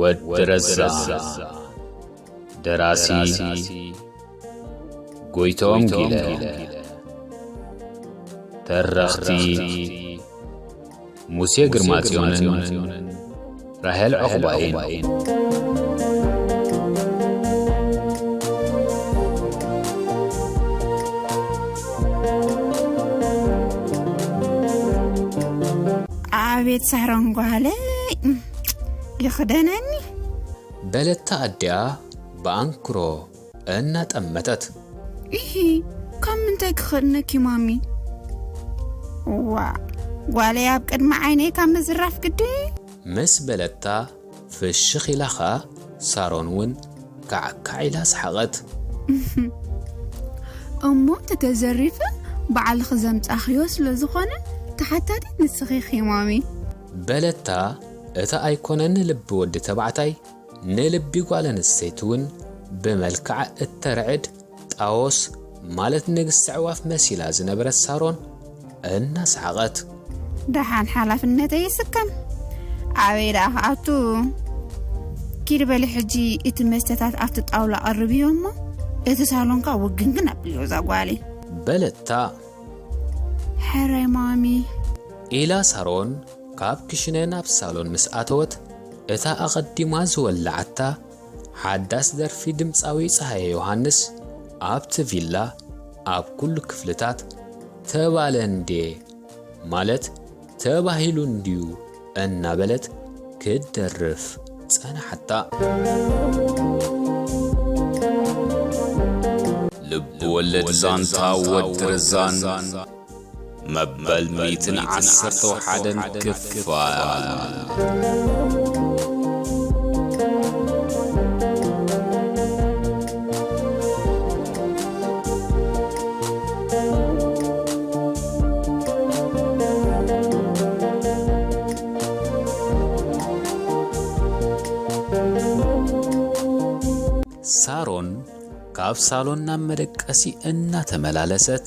ወዲ ረዛ ደራሲ ጎይቶም ጊለ ተረኽቲ ሙሴ ግርማጽዮንን ራሄል ዕቑባይን ኣቤት ሳሮን ጓለይ ይኽደነኒ በለታ ኣዲኣ ብኣንክሮ እናጠመተት። ኢሂ ካብ ምንታይ ክኸድነኪ ማሚ እዋ ጓለይ ኣብ ቅድሚ ዓይነይ ካብ ምዝራፍ ግዲ ምስ በለታ ፍሽኽ ኢላ ኸኣ ሳሮን እውን ካዕካዕ ኢላ ሰሓቐት። እሞ እቲ ተዘሪፈ ባዕልኺ ዘምጻእኽዮ ስለ ዝኾነ ተሓታቲት ንስኺ ኢኺ ማሚ። በለታ እታ ኣይኮነን ንልቢ ወዲ ተባዕታይ ንልቢ ጓል ኣንስተይቲ እውን ብመልክዓ እተርዕድ ጣዎስ ማለት ንግስቲ ኣዕዋፍ መሲላ ዝነበረት ሳሮን እናሰሓቐት። ደሓን ሓላፍነተይ ይስከም ኣበይ ደኣ ክኣቱ ኪድ በሊ ሕጂ እቲ መስተታት ኣብቲ ጣውላ ቐርብዮ እሞ እቲ ሳሎንካ ውግንግን ኣብልዮ እዛ ጓሊ በለታ። ሕራይ ማሚ ኢላ ሳሮን ካብ ክሽነ ናብ ሳሎን ምስ ኣተወት እታ ኣቐዲማ ዝወላዓታ ሓዳስ ደርፊ ድምጻዊ ጸሃየ ዮሃንስ ኣብቲ ቪላ ኣብ ኩሉ ክፍልታት ተባለ እንዴ ማለት ተባሂሉ እንድዩ እናበለት ክትደርፍ ጸንሓታ። ልብ ወለድ ዛንታ ወዲ ረዛን መበል ሚእትን ዓሰርተ ወሓደን ክፋል ሳሮን ካብ ሳሎን ናብ መደቀሲ እናተመላለሰት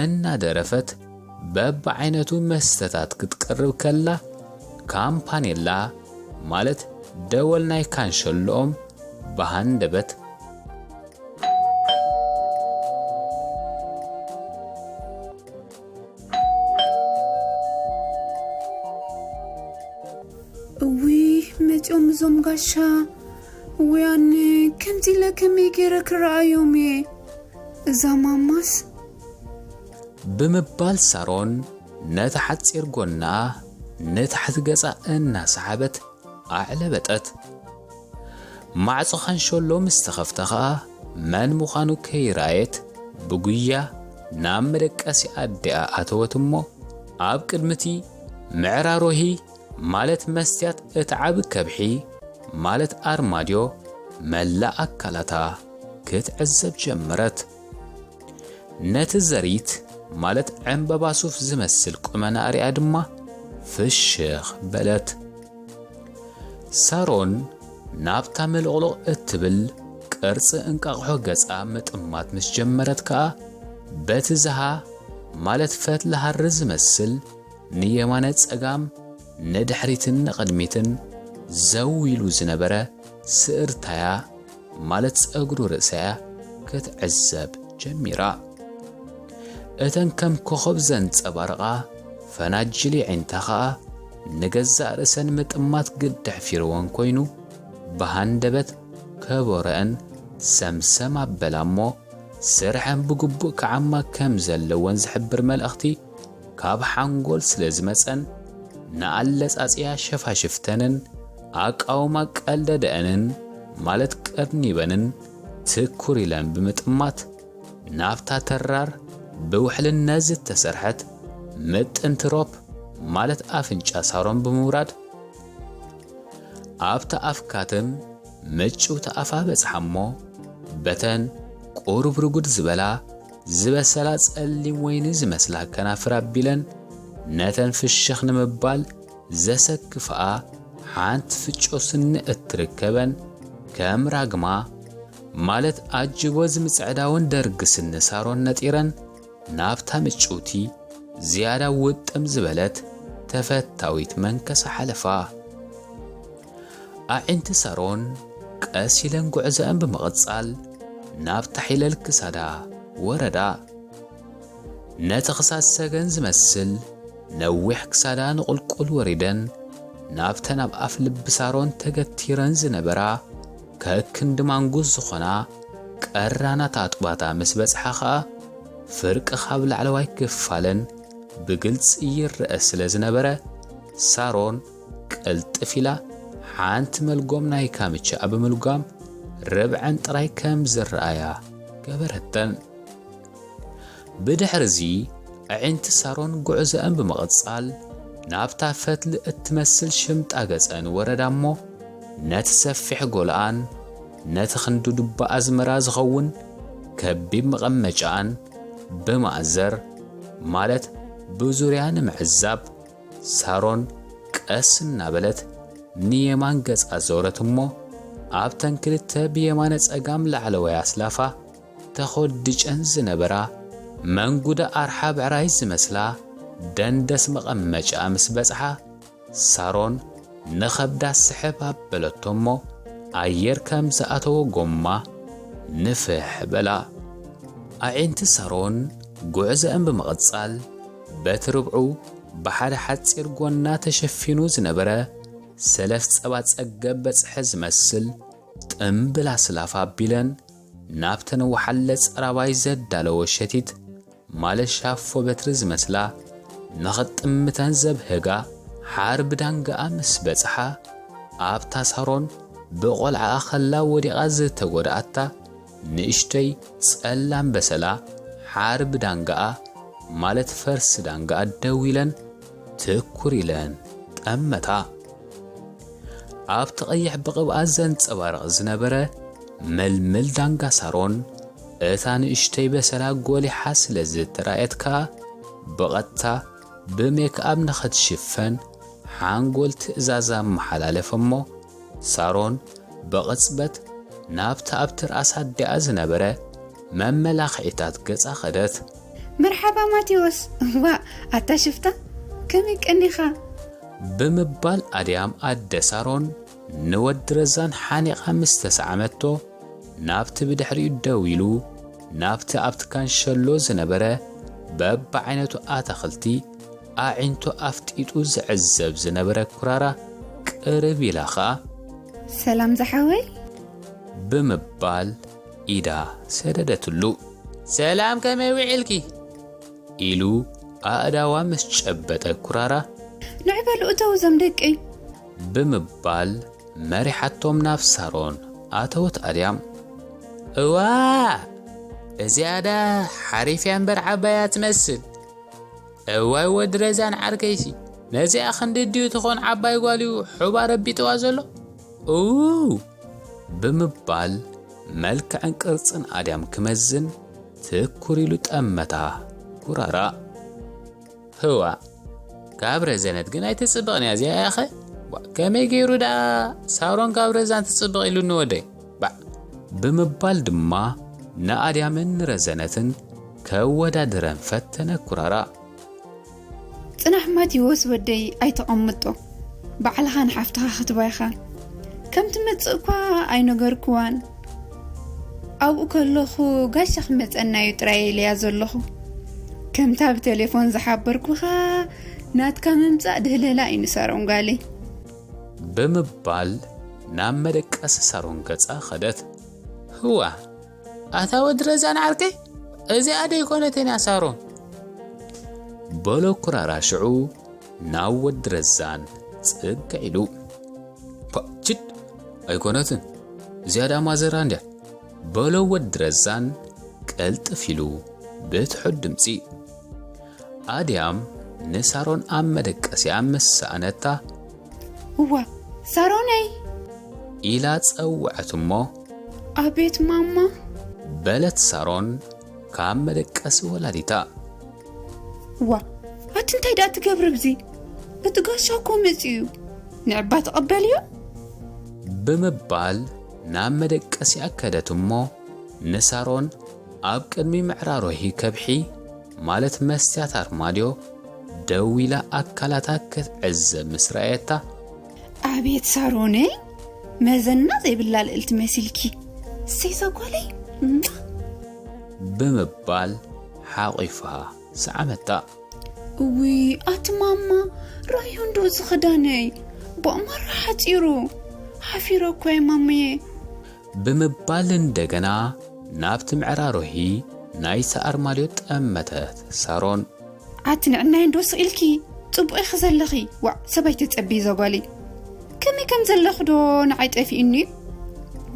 እናደረፈት በብዓይነቱ መስተታት ክትቀርብ ከላ፣ ካምፓኔላ ማለት ደወል ናይ ካንሸሎኦም ብሃንደበት መፂኦም እዞም ጋሻ ወያነ ከምዚ ኢለ ከመይ ገይረ ክረኣዮም እየ እዛ ማማስ ብምባል ሳሮን ነታ ሓጺር ጎና ንታሕቲ ገጻ እናሰሓበት ኣዕለበጠት። ማዕጾ ካንሸሎ ምስ ተኸፍተ ኸኣ መን ምዃኑ ከይረኣየት ብጉያ ናብ መደቀሲ ኣዲኣ ኣተወት እሞ ኣብ ቅድሚቲ ምዕራሮሂ ማለት መስትያት እቲ ዓቢ ከብሒ ማለት ኣርማድዮ መላእ ኣካላታ ክትዕዘብ ጀመረት። ነቲ ዘሪት ማለት ዕምበባ ሱፍ ዝመስል ቁመናኣ ሪኣ ድማ ፍሽኽ በለት። ሳሮን ናብታ ምልቕልቕ እትብል ቅርጺ እንቃቕሖ ገጻ ምጥማት ምስ ጀመረት ከኣ በቲ ዝሃ ማለት ፈትሊ ሃሪ ዝመስል ንየማነ ጸጋም ንድሕሪትን ንቕድሚትን ዘው ኢሉ ዝነበረ ስእርታያ ማለት ጸጉሪ ርእሳያ ክትዕዘብ ጀሚራ። እተን ከም ኮኾብ ዘንጸባርቓ ፈናጅል የዒንታ ኸኣ ንገዛእ ርእሰን ምጥማት ግዲ ኣሕፊርወን ኮይኑ ብሃንደበት ከበሮኣን ሰምሰም ኣበላ እሞ ስርሐን ብግቡእ ክዓማ ከም ዘለወን ዝሕብር መልእኽቲ ካብ ሓንጎል ስለ ዝመጸን ንኣለጻጽያ ሸፋሽፍተንን ኣቃውማ ቀልደደኣንን ማለት ቀርኒበንን ትኩር ኢለን ብምጥማት ናብታ ተራር ብውሕልነት ዝተሰርሐት ምጥንቲ ሮፕ ማለት ኣፍንጫ ሳሮን ብምውራድ ኣብታ ኣፍ ካትም ምጭውቲ ኣፋ በጽሓ እሞ በተን ቁሩብ ርጉድ ዝበላ ዝበሰላ ጸሊም ወይኒ ዝመስላ ከናፍር ኣቢለን ነተን ፍሽኽ ንምባል ዘሰክፍኣ ሓንቲ ፍጮ ስኒ እትርከበን ከም ራግማ ማለት ኣጅቦ ዝምጽዕዳውን ደርግ ስኒ ሳሮን ነጢረን ናብታ ምጭውቲ ዝያዳ ውጥም ዝበለት ተፈታዊት መንከሳ ሓለፋ። ኣዒንቲ ሳሮን ቀስ ኢለን ጉዕዘኣን ብምቕጻል ናብ ታሒለል ክሳዳ ወረዳ። ነቲ ክሳድ ሰገን ዝመስል ነዊሕ ክሳዳ ንቑልቁል ወሪደን ናብተን ኣብ ኣፍ ልቢ ሳሮን ተገቲረን ዝነበራ ከክንዲ ማንጉስ ዝኾና ቀራናት ኣጥባታ ምስ በጽሓ ኸኣ ፍርቂ ካብ ላዕለዋይ ክፋለን ብግልጺ ይረአ ስለ ዝነበረ ሳሮን ቅልጥፍ ኢላ ሓንቲ መልጎም ናይ ካምቻኣ ብምልጓም ርብዐን ጥራይ ከም ዝረኣያ ገበረተን። ብድሕርዚ ኣዒንቲ ሳሮን ጉዕዘአን ብምቕጻል ናብታ ፈትሊ እትመስል ሽምጣ ገጸን ወረዳ እሞ ነቲ ሰፊሕ ጎልኣን ነቲ ክንዲ ዱባ ኣዝመራ ዝኸውን ከቢብ መቐመጫኣን ብማእዘር ማለት ብዙርያ ንምዕዛብ ሳሮን ቀስ እናበለት ንየማን ገጻ ዞረት እሞ ኣብተን ክልተ ብየማነ ጸጋም ላዕለዋይ ኣስላፋ ተኾድጨን ዝነበራ መንጉዳ ኣርሓ ብዕራይ ዝመስላ ደንደስ መቐመጫ ምስ በጽሓ ሳሮን ንኸብዳ ስሕብ ኣበለቶ እሞ ኣየር ከም ዝኣተወ ጎማ ንፍሕ በላ። ኣዒንቲ ሳሮን ጉዕዘአን ብምቕጻል በቲ ርብዑ ብሓደ ሓጺር ጎና ተሸፊኑ ዝነበረ ሰለፍ ጸባ ጸገብ በጽሐ ዝመስል ጥምብል ኣስላፍ ኣቢለን ናብተን ወሓለ ጸራባይ ዘዳለዎ ሸቲት ማለት ሻፎ በትሪ ዝመስላ ንኽጥምተን ዘብህጋ ሓርቢ ዳንጋኣ ምስ በጽሓ ኣብታ ሳሮን ብቖልዓኣ ኸላ ወዲቓ ዝተጎድኣታ ንእሽተይ ጸላም በሰላ ሓርብ ዳንጋኣ ማለት ፈርስ ዳንጋኣ ደው ኢለን ትኩር ኢለን ጠመታ። ኣብቲ ቀይሕ ብቕብኣ ዘንጸባርቕ ዝነበረ መልመል ዳንጋ ሳሮን እታ ንእሽተይ በሰላ ጎሊሓ ስለ ዝተራእየት ከኣ ብቐጥታ ብሜክኣብ ንኸትሽፈን ሓንጎል ትእዛዝ ኣመሓላለፈ'ሞ ሳሮን ብቕጽበት ናብቲ ኣብ ትርኣስ ኣዲኣ ዝነበረ መመላኽዒታት ገጻ ከደት። መርሓባ ማቴዎስ፣ ዋእ ኣታ ሽፍታ ከመይ ቀኒኻ? ብምባል ኣድያም ኣደ ሳሮን ንወዲ ረዛን ሓኒቓ ምስ ተሰዓመቶ፣ ናብቲ ብድሕሪኡ ደው ኢሉ ናብቲ ኣብቲ ካንሸሎ ዝነበረ በብዓይነቱ ኣታኽልቲ ኣዒንቱ ኣፍጢጡ ዝዕዘብ ዝነበረ ኩራራ ቅርብ ኢላ ኸኣ ሰላም ዝሓወይ ብምባል ኢዳ ሰደደትሉ። ሰላም ከመይ ውዒልኪ? ኢሉ ኣእዳዋ ምስ ጨበጠ ኩራራ ንዕ በሉ እተው እዞም ደቂ ብምባል መሪሓቶም ናብ ሳሮን ኣተወት ኣድያም። እዋ እዚኣዳ ሓሪፍያ እምበር ዓባያ ትመስል እዋይ ወዲ ረዛን ዓርከይሲ ነዚኣ ክንዲ ድዩ ትኾን ዓባይ ጓልዩ ሑባ ረቢጥዋ ዘሎ ኡው ብምባል መልክዕን ቅርጽን ኣድያም ክመዝን ትኩር ኢሉ ጠመታ ጉራራ ህዋ ካብ ረዘነት ግን ኣይትጽብቕን እያ እዚኣ ያኸ ከመይ ገይሩ ደኣ ሳሮን ካብ ረዛን ትጽብቕ ኢሉኒ ወደይ ባእ ብምባል ድማ ንኣድያምን ንረዘነትን ከወዳድረን ፈተነ ኩራራ። ጽናሕ ማቲዎስ ወደይ ኣይተቐምጦ ባዕልኻ ንሓፍትኻ ክትባ ኢኻ ከም ትመጽእ እኳ ኣይነገርክዋን ኣብኡ ከለኹ ጋሻ ክመጸና እዩ ጥራይ ኢለያ ዘለኹ ከምታ ብቴሌፎን ዝሓበርኩኻ ናትካ ምምጻእ ድህለላ እዩ ንሳሮን ጓለይ ብምባል ናብ መደቀሲ ሳሮን ገጻ ከደት። ህዋ ኣታ ወዲ ረዛን ዓርከይ እዚኣ ደይኮነትን እያ ሳሮን በሎ ኩራራ ሽዑ ናብ ወዲ ረዛን ጽግዕ ኢሉ ችድ ኣይኮነትን እዚኣ ዳማ ዘራ እንድያ በሎ ወዲ ረዛን ቀልጥፍ ኢሉ ብትሑት ድምፂ ኣድያም ንሳሮን ኣብ መደቀሲኣ ምስ ሰኣነታ። እወ ሳሮነይ! ኢላ ጸውዐት እሞ። ኣቤት ማማ! በለት ሳሮን ካብ መደቀሲ ወላዲታ። እዋ ኣቲ እንታይ ደኣ ትገብሪ ኣብዚ? እቲ ጋሻ እኮ መጺኡ እዩ፣ ንዕባ ተቐበልዮ? ብምባል ናብ መደቀሲኣ ከደት እሞ ንሳሮን ኣብ ቅድሚ ምዕራሮሂ ከብሒ ማለት መስትያት ኣርማድዮ ደው ኢላ ኣካላታ ክትዕዘብ ምስ ረኣየታ። ኣቤት ሳሮነይ መዘና ዘይብላ ልእልቲ መሲልኪ እሰይዛ ጓለይ እማ። ብምባል ሓቝፋ ሰዓመታ። እውይ ኣቲ ማማ ረኣዮ እንዶ እዚ ኽዳነይ ብኣማራ ሓጺሩ ሓፊረ እኳ'የ ማምየ። ብምባል እንደገና ናብቲ ምዕራሮሂ ናይ ሰኣርማልዮ ጠመተት። ሳሮን። ኣቲ ንዕናይ እንዶ ስቕ ኢልኪ ጽቡቕ ኢኺ ዘለኺ። ዋእ ሰብኣይ ተጸብዪ እዛ ጓለይ። ከመይ ከም ዘለኺ ዶ ንዓይ ጠፊኡኒ እዩ።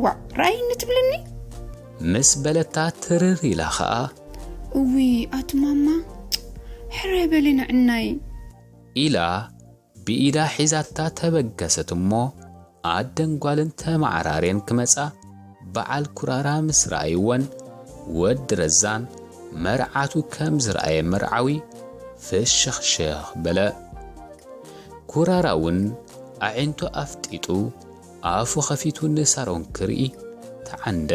ዋእ ረኣይኒ ትብልኒ። ምስ በለታ ትርር ኢላ ኸኣ። እውይ ኣቲ ማማ ሕራይ በሊ ንዕናይ። ኢላ ብኢዳ ሒዛታ ተበገሰት እሞ ኣደን ጓልን ተመዓራርየን ክመጻ በዓል ኩራራ ምስ ረኣይወን ወዲ ረዛን መርዓቱ ከም ዝረኣየ መርዓዊ ፍሽኽሽኽ በለ። ኩራራ'ውን ኣዒንቱ ኣፍጢጡ ኣፉ ከፊቱ ንሳሮን ክርኢ ተዓንደ።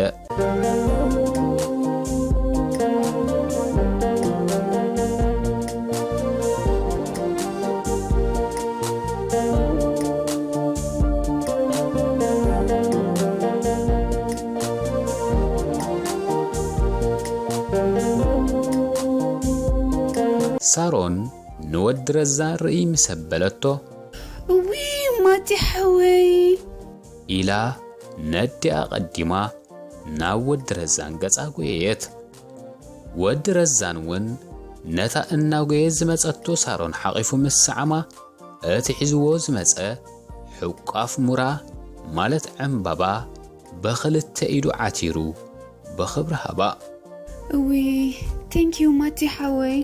ሳሮን ንወዲ ረዛ ርእይ ምስ ኣበለቶ፣ እውይ ማቲ ሓወይ። ኢላ ነዲኣ ቀዲማ ናብ ወዲ ረዛን ገጻ ጎየየት። ወዲ ረዛን ውን ነታ እናጎየት ዝመጸቶ ሳሮን ሓቚፉ ምስ ሰዓማ እቲ ሒዝዎ ዝመጸ ሕቋፍ ሙራ ማለት ዕንባባ ብኽልተ ኢዱ ዓቲሩ ብኽብሪ ሃባ። እውይ ቴንኪው ማቲ ሓወይ።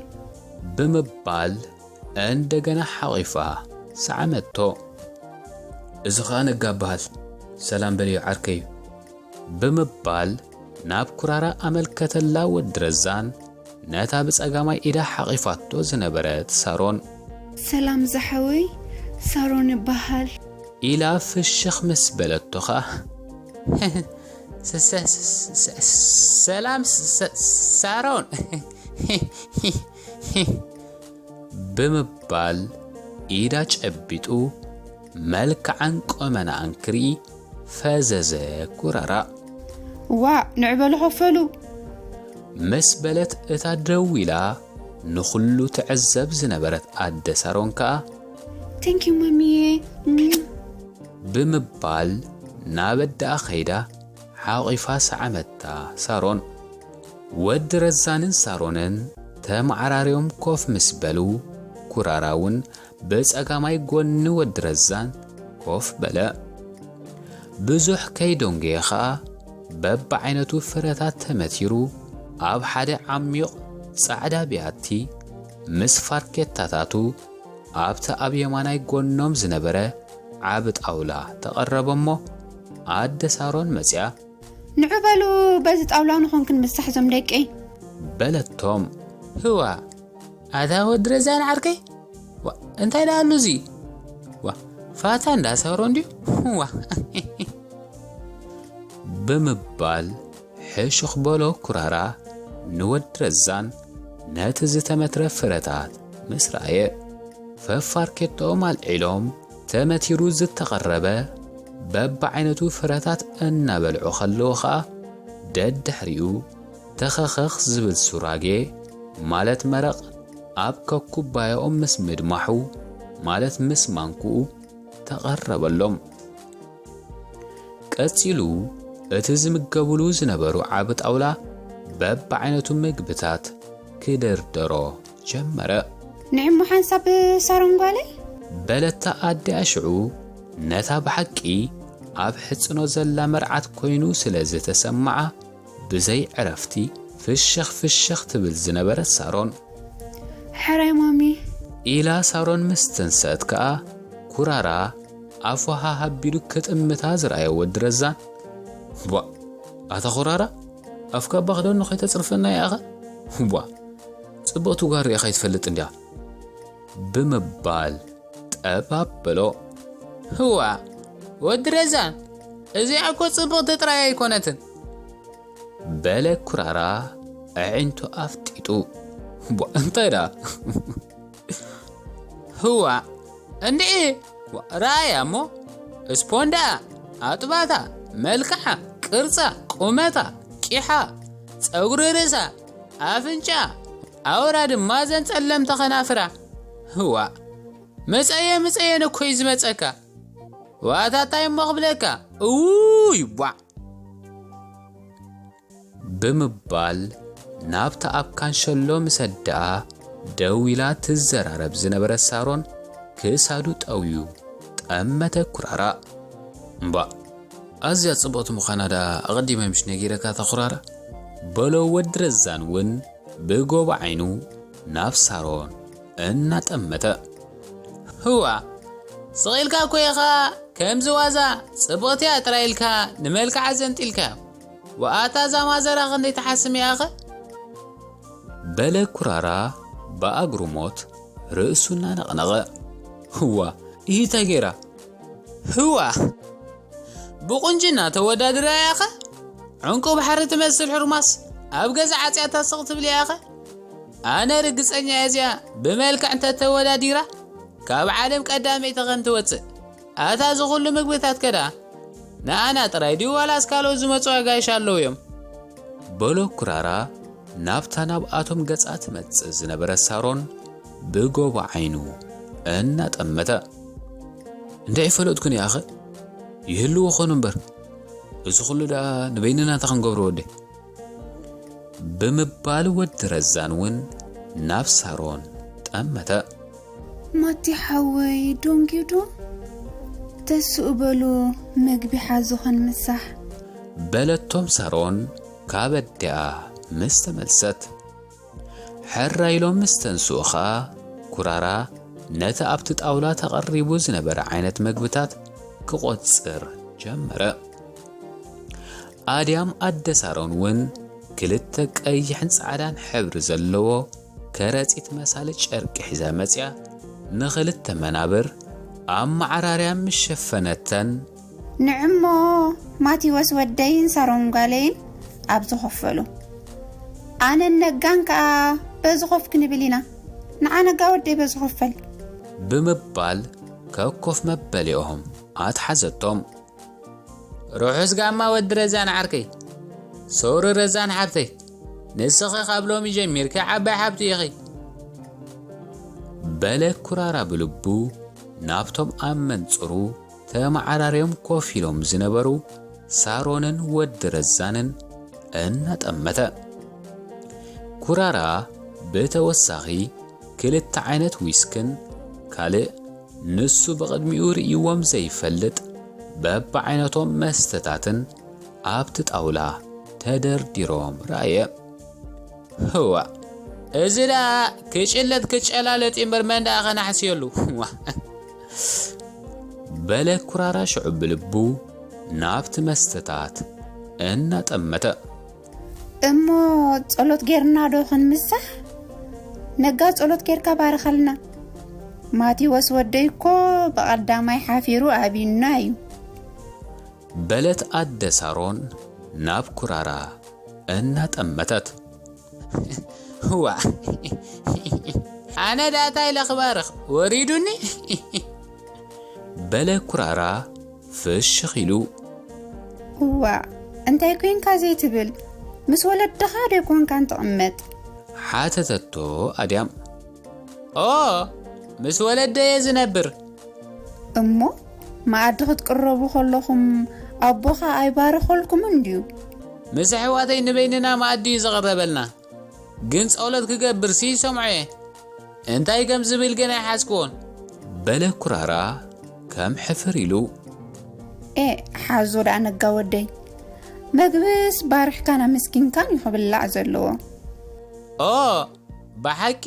ብምባል እንደገና ሓቚፋ ሰዓመቶ። እዚ ኸኣ ነጋ እብሃል። ሰላም በልዮ ዓርከይ! ብምባል ናብ ኩራራ ኣመልከተላ ወዲ ረዛን ነታ ብጸጋማይ ኢዳ ሓቚፋቶ ዝነበረት ሳሮን። ሰላም ዝሓወይ! ሳሮን እብሃል። ኢላ ፍሽኽ ምስ በለቶ ኸኣ። ሰላም ሳሮን! ሂህ ብምባል ኢዳ ጨቢጡ መልክዓን ቁመናኣን ክርኢ ፈዘዘ ኩራራእ። ዋእ ንዕ በሉ ከፈሉ። ምስ በለት እታ ደው ኢላ ንኹሉ ትዕዘብ ዝነበረት ኣደ ሳሮን ከኣ ቴንኪዩ ማሚየ ብምባል ናብ ኣደኣ ከይዳ ሓቚፋ ሰዓመታ ሳሮን። ወዲ ረዛንን ሳሮንን ተመዓራርዮም ኮፍ ምስ በሉ፣ ኩራራ'ውን ብጸጋማይ ጎኒ ወዲ ረዛን ኮፍ በለ። ብዙሕ ከይዶንጎየ ከኣ በብዓይነቱ ፍረታት ተመቲሩ ኣብ ሓደ ዓሚዩቕ ጻዕዳ ቢያቲ ምስ ፋርኬታታቱ ኣብቲ ኣብ የማናይ ጎኖም ዝነበረ ዓቢ ጣውላ ተቐረበ'ሞ ኣደ ሳሮን መጺኣ ንዑ በሉ በዚ ጣውላ ንኹን ክንምሳሕ ዞም ደቂ። በለቶም። ህዋ ኣታ ወዲ ረዛን ዓርከይ ዋ እንታይ ደኣ ኣሎ እዚ ዋ ፋታ እንዳ ሰሮ እንድዩ ዋ ብምባል ሕሹኽ በሎ ኩራራ ንወዲ ረዛን ነቲ ዝተመትረ ፍረታት ምስ ረኣየ ፈፋርኬቶኦም ኣልዒሎም ተመቲሩ ዝተቐረበ በብዓይነቱ ፍረታት እናበልዑ ከለዉ ኸኣ ደድሕሪኡ ተኸኸኽ ዝብል ሱራጌ ማለት መረቕ ኣብ ከኩባያኦም ምስ ምድማሑ ማለት ምስ ማንክኡ ተቐረበሎም። ቀጺሉ እቲ ዝምገብሉ ዝነበሩ ዓቢ ጣውላ በብዓይነቱ ምግብታት ክድርደሮ ጀመረ። ንዕሞ ሓንሳብ ሳሮን ጓለይ። በለታ ኣዲኣ ሽዑ ነታ ብሓቂ ኣብ ሕጽኖ ዘላ መርዓት ኮይኑ ስለ ዝተሰምዓ ብዘይ ዕረፍቲ ፍሽኽ ፍሽኽ ትብል ዝነበረት ሳሮን። ሕራይ ማሚ። ኢላ ሳሮን ምስ ተንሰት ከኣ ኩራራ ኣፉ ሃሃ ኣቢሉ ክጥምታ ዝረኣየ ወዲ ረዛን። ቧእ ኣታ ኩራራ! ኣፍካ እባ ክደኖ ከይተጽርፈና ይኣኻ እባ ጽብቕቲ ጓል ርኢኻ ይትፈልጥ እንድያ ብምባል ጠብ ኣበሎ ህዋ ወዲ ረዛን እዚኣ እኮ ጽብቕቲ ጥራይ ኣይኮነትን በለ ኩራራ ኣዒንቱ ኣፍጢጡ እንታይ ደኣ ህዋ እንድዒ ረኣያ እሞ እስፖንዳኣ ኣጥባታ መልክዓ ቅርፃ ቁመታ ቂሓ ፀጉሪ ርእሳ ኣፍንጫ ኣውራ ድማ ዘን ፀለምቲ ከናፍራ ህዋ መፀየ ምፀየ ነኮይ ዝመፀካ ዋታታይ እሞ ክብለካ እውይ ቧዕ ብምባል ናብታ ኣብ ካንሸሎ ምስ ኣደኣ ደው ኢላ ትዘራረብ ዝነበረት ሳሮን ክሳዱ ጠውዩ ጠመተ ኩራራ። እምባእ ኣዝያ ጽብቕቲ ምዃና ደኣ ኣቐዲመ ምሽ ነጊረካ እታ ኩራራ? በሎ ወዲ ረዛን እውን ብጎቦ ዓይኑ ናብ ሳሮን እናጠመተ። ህዋ ስቕ ኢልካ እኮ ኢኻ ከምዚ ዋዛ ጽብቕቲ እያ ጥራይ ኢልካ ንመልክዓ ዘንጢልካዮ። ዋኣ እታ ዛማዘራ ክንደይ ትሓስም ያኸ። በለ ኩራራ ብኣግርሞት ርእሱ እናነቕነቐ። ህዋ እሂ ታይ ገይራ? ህዋ ብቑንጅና ተወዳድራ ያኸ ዕንቁ ባሕሪ ትመስል ሕርማስ ኣብ ገዛ ዓጽያታ ስቕ ትብል ያኸ ኣነ ርግጸኛ እየ እዚኣ ብመልክዕ እንተተወዳዲራ ካብ ዓለም ቀዳመይቲ ከም ትወጽእ። ኣታ እዚ ኩሉ ምግብታት ከ ደኣ ንኣና ጥራይ ድዩ ዋላስ ካልኦት ዝመጹ ኣጋይሽ ኣለዉ እዮም? በሎ ኩራራ ናብታ ናብኣቶም ገጻ ትመጽእ ዝነበረት ሳሮን ብጎቦ ዓይኑ እናጠመተ። እንዳ ኣይፈለጥኩን እየ ኣኸ ይህልዎ ኾኑ እምበር እዚ ኩሉ ደኣ ንበይንና እንታይ ክንገብሮ ወደይ? ብምባል ወዲ ረዛን ውን ናብ ሳሮን ጠመተ። ማቲ ሓወይ ዶንጊዱ ተስኡ በሉ መግቢ ሓዙ ክንምሳሕ። በለቶም ሳሮን ካብ ኣዲኣ ምስ ተመልሰት። ሕራይ ኢሎም ምስ ተንስኡ ኸኣ ኩራራ ነቲ ኣብቲ ጣውላ ተቐሪቡ ዝነበረ ዓይነት መግብታት ክቖጽር ጀመረ። ኣድያም ኣደ ሳሮን እውን ክልተ ቀይሕን ጻዕዳን ሕብሪ ዘለዎ ከረጺት መሳሊ ጨርቂ ሒዛ መጺኣ ንኽልተ መናብር ኣብ መዓራርያ ምስ ሸፈነተን ንዕሞ ማቲወስ ወደይን ሳሮን ጓለይን ኣብ ዝኸፈሉ ኣነን ነጋን ከኣ በዚ ኮፍ ክንብል ኢና ንዓ ነጋ ወደይ በዚ ኮፈል ብምባል ከኮፍ መበሊኦም ኣትሓዘቶም። ርሑስ ጋማ ወዲ ረዛን ዓርከይ ሶሪ ረዛን ሓብተይ ንስኺ ካብ ሎሚ ጀሚርኪ ዓባይ ሓብቲ ኢኺ በለ ኩራራ ብልቡ ናብቶም ኣብ መንጽሩ ተመዓራርዮም ኮፍ ኢሎም ዝነበሩ ሳሮንን ወዲ ረዛንን እናጠመተ። ኩራራ ብተወሳኺ ክልተ ዓይነት ዊስክን ካልእ ንሱ ብቕድሚኡ ርእይዎም ዘይፈልጥ በብዓይነቶም መስተታትን ኣብቲ ጣውላ ተደርዲሮም ረኣየ። ህዋእ እዚ ደኣ ክጭለጥ ክጨላለጥ እምበር መን ደኣ ከናሕስየሉ? በለ ኩራራ ሽዑ ብልቡ ናብቲ መስተታት እናጠመተ። እሞ ጸሎት ጌርና ዶ ክንምሳሕ? ነጋ ጸሎት ጌርካ ባርኸልና። ማቴዎስ ወደይ እኮ ብቐዳማይ ሓፊሩ ኣብዩና እዩ። በለት ኣደ ሳሮን ናብ ኩራራ እናጠመተት። ዋእ ኣነ ደኣ ታይ ኢለ ክባርኽ ወሪዱኒ በለ ኩራራ ፍሽኽ ኢሉ። ዋእ እንታይ ኮንካ ዘይትብል ምስ ወለድኻ ዶ ኮንካን ትቕመጥ ሓተተቶ ኣድያም። ኦ ምስ ወለደየ ዝነብር እሞ መኣዲ ክትቅረቡ ከለኹም ኣቦኻ ኣይባረኸልኩምን ድዩ? ምስ ኣሕዋተይ ንበይንና መኣዲ እዩ ዝቕረበልና፣ ግን ጸሎት ክገብርሲ ይሰምዖ እየ፣ እንታይ ከም ዝብል ግን ኣይሓዝክዎን። በለ ኩራራ ከም ሕፍር ኢሉ። ኤእ ሓዞ ደኣ ነጋ ወደይ፣ መግብስ ባሪኽካን ኣመስጊንካን እዩ ክብላዕ ዘለዎ። ኦእ ብሓቂ!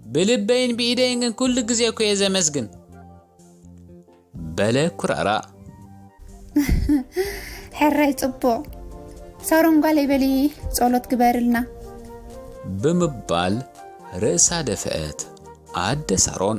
ብልበይን ብኢደይን ግን ኩሉ ግዜ እኮ እየ ዘመስግን። በለ ኩራራ። ሕራይ ጽቡቕ ሳሮን ጓለይ በሊ ጸሎት ግበርልና ብምባል ርእሳ ደፍአት ኣደ ሳሮን።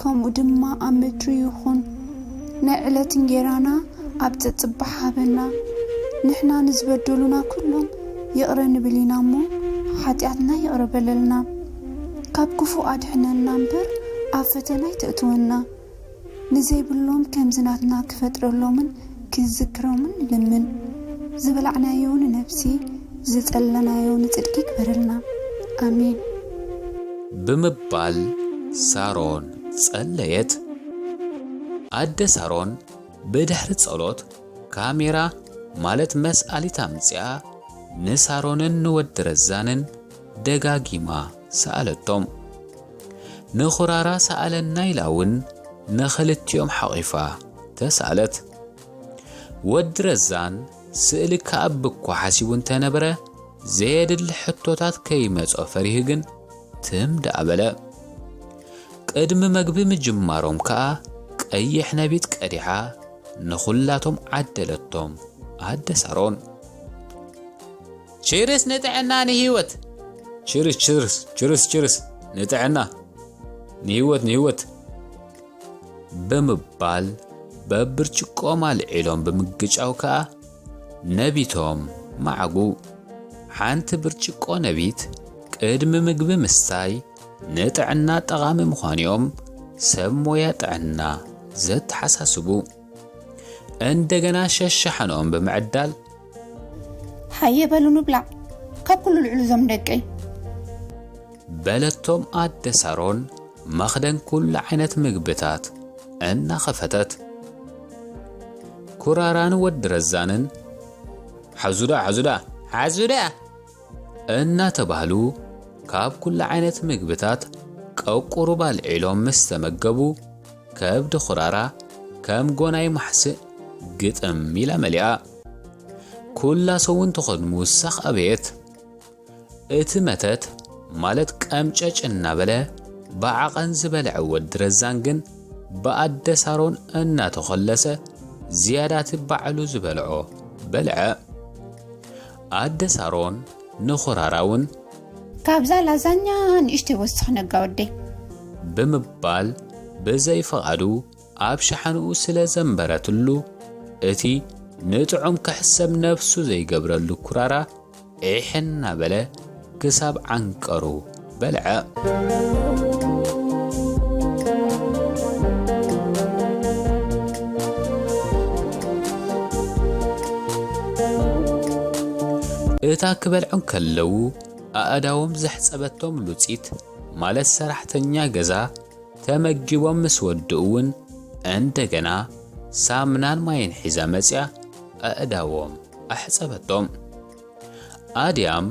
ከምኡ ድማ ኣብ ምድሪ ይኹን። ናይ ዕለት እንጌራና ኣብ ጸጽባሕ ሃበና። ንሕና ንዝበደሉና ኩሎም ይቕረ ንብል ኢና እሞ፣ ሓጢኣትና ይቕረ በለልና። ካብ ክፉእ ኣድሕነና እምበር ኣብ ፈተና ኣይተእትወና። ንዘይብሎም ከምዚ ናትና ክፈጥረሎምን ክዝክሮምን ንልምን። ዝበላዕናዮ ንነብሲ። ዝጸለናዮ ንጽድቂ ይግበረልና ኣሜን። ብምባል ሳሮን ጸለየት። ኣደ ሳሮን ብድሕሪ ጸሎት ካሜራ ማለት መስኣሊት ኣምጺኣ ንሳሮንን ንወዲ ረዛንን ደጋጊማ ሰኣለቶም። ንኹራራ ሰኣለና ኢላ ውን ንኽልቲኦም ሓቚፋ ተሳእለት። ወዲ ረዛን ስእሊ ክኣብ'ኳ ሓሲቡ እንተነበረ፣ ዘየድሊ ሕቶታት ከይመጾ ፈሪሁ ግን ትም ደኣ በለ። ቅድሚ መግቢ ምጅማሮም ከኣ ቀይሕ ነቢት ቀዲሓ ንኹላቶም ዓደለቶም፣ ኣደ ሳሮን። ቺርስ ንጥዕና ንሂወት! ቺርስ ቺርስ ቺርስ ቺርስ ንጥዕና ንሂወት ንሂወት! ብምባል በብርጭቆኦም ኣልዒሎም ብምግጫው ከኣ ነቢቶም መዓጉ። ሓንቲ ብርጭቆ ነቢት ቅድሚ ምግቢ ምስታይ ንጥዕና ጠቓሚ ምዃኑ'ዮም ሰብ ሞያ ጥዕና ዘተሓሳስቡ። እንደገና ሸሻሓንኦም ብምዕዳል ሃየ በሉ ንብላዕ ካብ ኩሉ ልዕሉ እዞም ደቀይ በለቶም ኣደ ሳሮን መኽደን ኩሉ ዓይነት ምግብታት እናኸፈተት ኩራራን ወዲ ረዛንን ሓዙዳ ሓዙዳ ሓዙዳ እናተባህሉ ካብ ኩሉ ዓይነት ምግብታት ቀቁሩብ ኣልዒሎም ምስ ተመገቡ ከብዲ ኹራራ ከም ጎናይ ማሕስእ ግጥም ኢላ መሊኣ። ኩላ ሰውን ትኾን ምውሳኽ ኣበየት። እቲ መተት ማለት ቀምጨጭ እናበለ ብዓቐን ዝበልዐ ወዲ ረዛን ግን ብኣደ ሳሮን እናተኾለሰ ዝያዳ እቲ ባዕሉ ዝበልዖ በልዐ። ኣደ ሳሮን ንኹራራ ውን። ካብዛ ላዛኛ ንእሽተይ ወስኽ ነጋ ወደይ። ብምባል ብዘይ ፍቓዱ ኣብ ሸሓንኡ ስለ ዘንበረትሉ እቲ ንጥዑም ክሕሰብ ነብሱ ዘይገብረሉ ኩራራ ዒሕ እናበለ ክሳብ ዓንቀሩ በልዐ። እታ ክበልዑ እንከለዉ ኣእዳዎም ዘሕጸበቶም ሉጺት ማለት ሰራሕተኛ ገዛ ተመጊቦም ምስ ወድኡ'ውን እንደገና ሳምናን ማይን ሒዛ መጺኣ ኣእዳዎም ኣሕጸበቶም። ኣድያም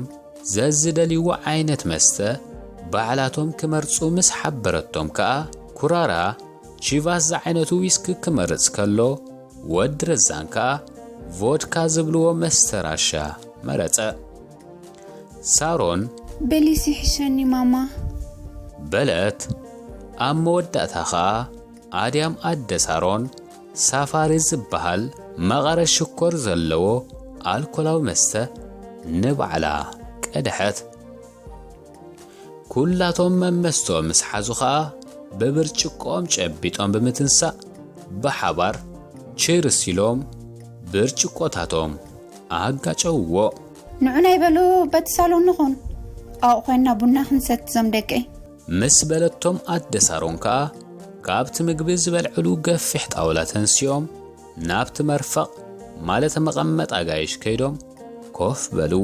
ዘዝደልይዎ ዓይነት መስተ ባዕላቶም ክመርጹ ምስ ሓበረቶም ከኣ ኩራራ ቺቫስ ዝዓይነቱ ዊስኪ ክመርጽ ከሎ ወዲ ረዛን ከኣ ቮድካ ዝብልዎ መስተ ራሻ መረጸ። ሳሮን። በሊስ ይሕሸኒ ማማ። በለት። ኣብ መወዳእታ ከኣ ኣድያም ኣደ ሳሮን ሳፋሪ ዝበሃል መቐረት ሽኮር ዘለዎ ኣልኮላዊ መስተ ንባዕላ ቀድሐት። ኩላቶም መመስተኦም ምስ ሓዙ ኸኣ ብብርጭቆኦም ጨቢጦም ብምትንሳእ ብሓባር ቺርስ ኢሎም ብርጭቆታቶም ኣጋጨውዎ። ንዑና ይበሉ በቲ ሳሎን ንኹን ኣብኡ ኮይንና ቡና ክንሰቲ ዞም ደቀይ። ምስ በለቶም ኣደ ሳሮን ከኣ ካብቲ ምግቢ ዝበልዕሉ ገፊሕ ጣውላ ተንሲኦም ናብቲ መርፈቕ ማለት መቐመጥ ኣጋይሽ ከይዶም ኮፍ በሉ።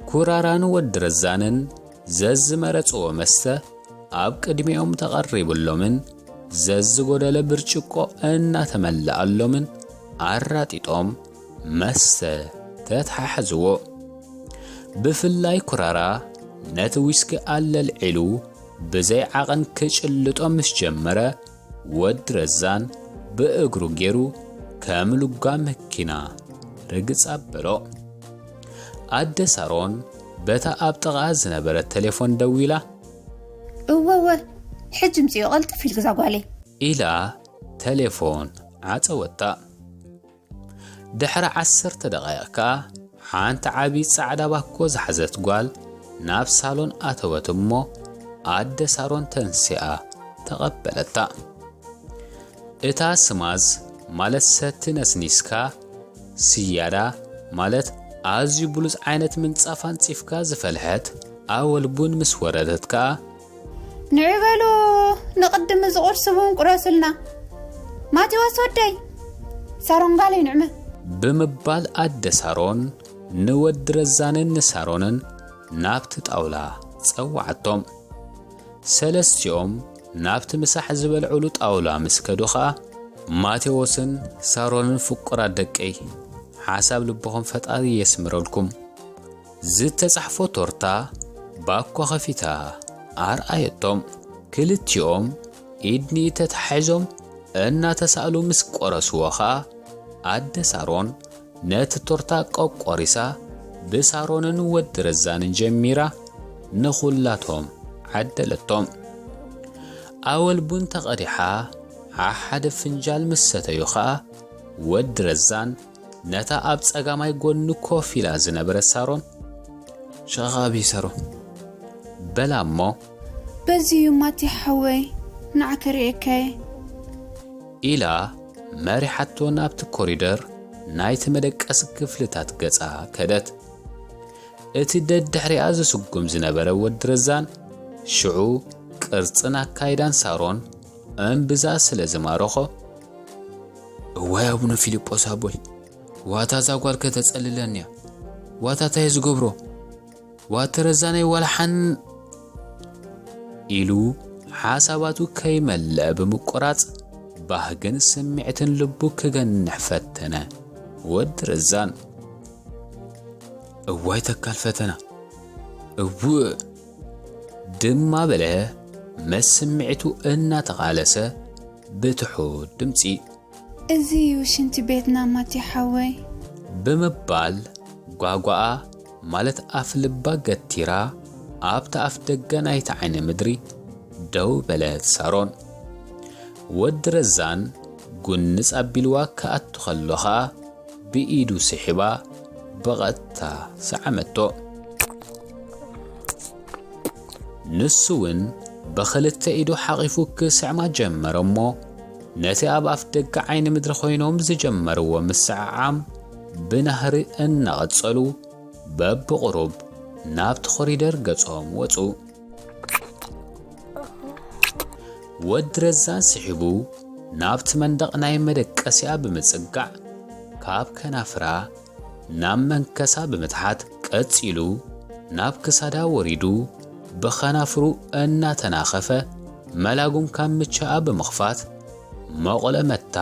ኩራራን ወዲ ረዛንን ዘዝመረጽዎ መስተ ኣብ ቅድሚኦም ተቐሪብሎምን ዘዝጎደለ ብርጭቆ እናተመልኣሎምን ኣራጢጦም መስተ ተተሓሕዝዎ። ብፍላይ ኩራራ ነቲ ዊስኪ ኣለልዒሉ ብዘይ ዓቐን ክጭልጦ ምስ ጀመረ፣ ወዲ ረዛን ብእግሩ ገይሩ ከም ሉጋ መኪና ርግጽ ኣበሎ። ኣደ ሳሮን በታ ኣብ ጥቓኣ ዝነበረት ተሌፎን ደዊላ። እወወ ሕጂ ምጽዮ ቐልጥፍ ኢልግዛ ጓለይ። ኢላ ተሌፎን ዓጸወታ። ድሕሪ ዓሰርተ ደቓይቕ ከኣ ሓንቲ ዓቢ ጻዕዳ ባኮ ዝሓዘት ጓል ናብ ሳሎን ኣተወት እሞ ኣደ ሳሮን ተንሲኣ ተቐበለታ። እታ ስማዝ ማለት ሰቲ ነስኒስካ፣ ስያዳ ማለት ኣዝዩ ብሉጽ ዓይነት ምንጻፍ ኣንጺፍካ ዝፈልሐት ኣወል ቡን ምስ ወረደት ከኣ ንዕበሎ ንቕድም እዚ ቁርሲ እውን ቁረስልና ማቴዎስ ወደይ ሳሮን ጓለይ ንዕመ ብምባል ኣደ ሳሮን ንወዲ ረዛንን ንሳሮንን ናብቲ ጣውላ ጸዋዓቶም ሰለስቲኦም ናብቲ ምሳሕ ዝበልዑሉ ጣውላ ምስ ከዱ ኸኣ ማቴዎስን ሳሮንን ፍቁራት ደቀይ ሓሳብ ልብኹም ፈጣሪ የስምረልኩም ዝተጻሕፎ ቶርታ ባኮ ከፊታ ኣርኣየቶም። ክልቲኦም ኢድ ንኢድ ተተሓሒዞም እናተሳእሉ ምስ ቆረስዎ ከኣ ኣደ ሳሮን ነቲ ቶርታ ቆቆሪሳ ብሳሮንን ወዲ ረዛንን ጀሚራ ንኹላቶም ዓደለቶም። ኣወል ቡን ተቐዲሓ ዓሓደ ፍንጃል ምስ ሰተዩ ከኣ ወዲ ረዛን ነታ ኣብ ጸጋማይ ጎኒ ኮፍ ኢላ ዝነበረት ሳሮን ሸኻብ ይሰሮ በላ እሞ በዚ እዩ ማቲ ሓወይ ንዓ ክርእየካየ ኢላ መሪሓቶ ናብቲ ኮሪደር ናይቲ መደቀሲ ክፍልታት ገጻ ከደት እቲ ደድሕሪኣ ዝስጉም ዝነበረ ወዲ ረዛን ሽዑ ቅርጽን ኣካይዳን ሳሮን እምብዛ ስለ ዝማረኾ እዋይ ኣቡነ ፊልጶስ ኣቦይ ዋታ እዛ ጓል ከተጸልለኒ እያ ዋታ እንታይ ዝገብሮ ዋተ ረዛነይ ዋላ ሓን ኢሉ ሓሳባቱ ከይመልአ ብምቁራጽ ባህግን ስምዒትን ልቡ ክገንሕ ፈተነ። ወዲ ረዛን እዋይ ተካል ፈተና እውእ ድማ በለ መስ ስምዒቱ እናተቓለሰ ብትሑት ድምጺ። እዚ እዩ ሽንቲ ቤትና ማቲ ሓወይ። ብምባል ጓጓኣ ማለት ኣፍ ልባ ገቲራ ኣብታ ኣፍ ደገ ናይቲ ዓይኒ ምድሪ ደው በለት ሳሮን። ወዲ ረዛን ጉንጽ ኣቢልዋ ክኣቱ ከሎ ከኣ ብኢዱ ስሒባ ብቐጥታ ሰዓመቶ። ንሱውን ብኽልተ ኢዱ ሓቚፉ ክስዕማ ጀመረ'ሞ፣ ነቲ ኣብ ኣፍደገ ዓይኒ ምድሪ ኮይኖም ዝጀመርዎ ምስዕዓም ብናህሪ እናቐጸሉ፣ በብቝሩብ ናብቲ ኮሪደር ገጾም ወጹ። ወዲ ረዛን ስሒቡ ናብቲ መንደቕ ናይ መደቀሲኣ ብምጽጋዕ፣ ካብ ከናፍራ ናብ መንከሳ ብምትሓት ቀጺሉ ናብ ክሳዳ ወሪዱ ብኸናፍሩ እናተናኸፈ መላጉም ካምቻኣ ብምኽፋት መቑለ መታ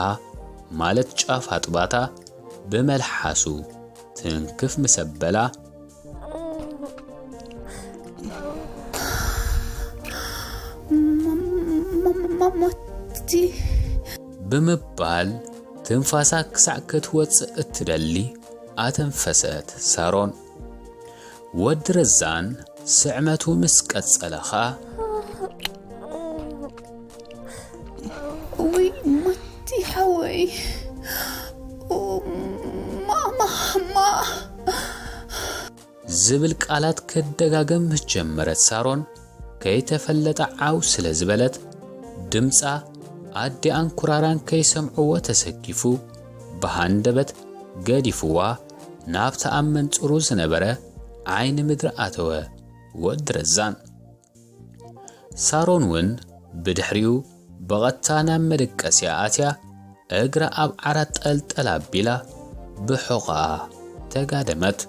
ማለት ጫፍ ኣጥባታ ብመልሓሱ ትንክፍ ምስ ኣበላ፣ ብምባል ትንፋሳ ክሳዕ ክትወጽእ እትደሊ ኣተንፈሰት ሳሮን። ወዲ ረዛን ስዕመቱ ምስ ቀጸለ ኸኣ ውይ ማቲ ሓወይ ማማማ ዝብል ቃላት ክደጋገም ምስ ጀመረት ሳሮን ከይተፈለጠ ዓው ስለ ዝበለት ድምፃ ኣዲኣን ኩራራን ከይሰምዕዎ ተሰኪፉ ብሃንደበት ገዲፍዋ ናብቲ ኣብ መንፅሩ ዝነበረ ዓይኒ ምድሪ ኣተወ ወዲ ረዛን ሳሮን ውን ብድሕሪኡ ብቐጥታ ናብ መደቀሲኣ ኣትያ እግራ ኣብ ዓራት ጠልጠል ኣቢላ ብሑቕኣ ተጋደመት።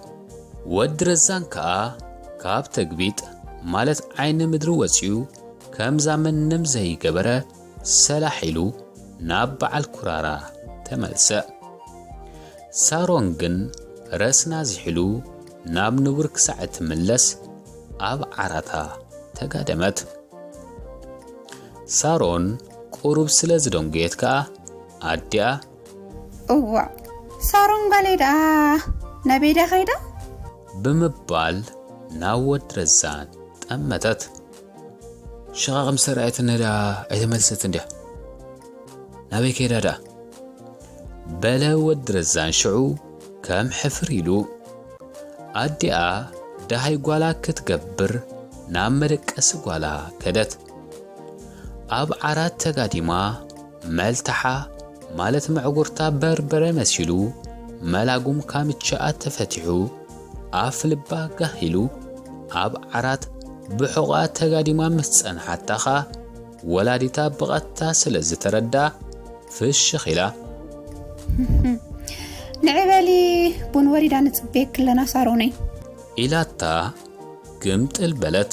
ወዲ ረዛን ከኣ ካብ ተግቢጥ ማለት ዓይኒ ምድሪ ወጺኡ ከምዛ ምንም ዘይገበረ ሰላሕ ኢሉ ናብ በዓል ኩራራ ተመልሰ። ሳሮን ግን ረስና ዚሒሉ ናብ ንቡር ክሳዕ እትምለስ ኣብ ዓራታ ተጋደመት። ሳሮን ቁሩብ ስለ ዝደንጎየት ከኣ ኣዲኣ እዋእ ሳሮን ጓለይ ደኣ ናበይዳ ከይዳ? ብምባል ናብ ወዲ ረዛን ጠመተት። ሽቓቕ ምስ ተራእየትኒ ደኣ ኣይተመልሰትን ድያ? ናበይ ከይዳ ደኣ? በለ ወዲ ረዛን ሽዑ ከም ሕፍር ኢሉ ኣዲኣ ደሃይ ጓላ ክትገብር ናብ መደቀሲ ጓላ ከደት። ኣብ ዓራት ተጋዲማ መልትዓ ማለት መዕጉርታ በርበረ መሲሉ መላጉም ካምችኣ ተፈቲሑ ኣፍ ልባ ጋህ ኢሉ ኣብ ዓራት ብሑቓ ተጋዲማ ምስ ጸንሓታ ኸኣ ወላዲታ ብቐጥታ ስለ ዝተረድኣ ፍሽኽ ኢላ። ንዒ በሊ ቡን ወሪዳ ንጽበየኪ ኣለና ሳሮነይ። ኢላታ ግምጥል በለት።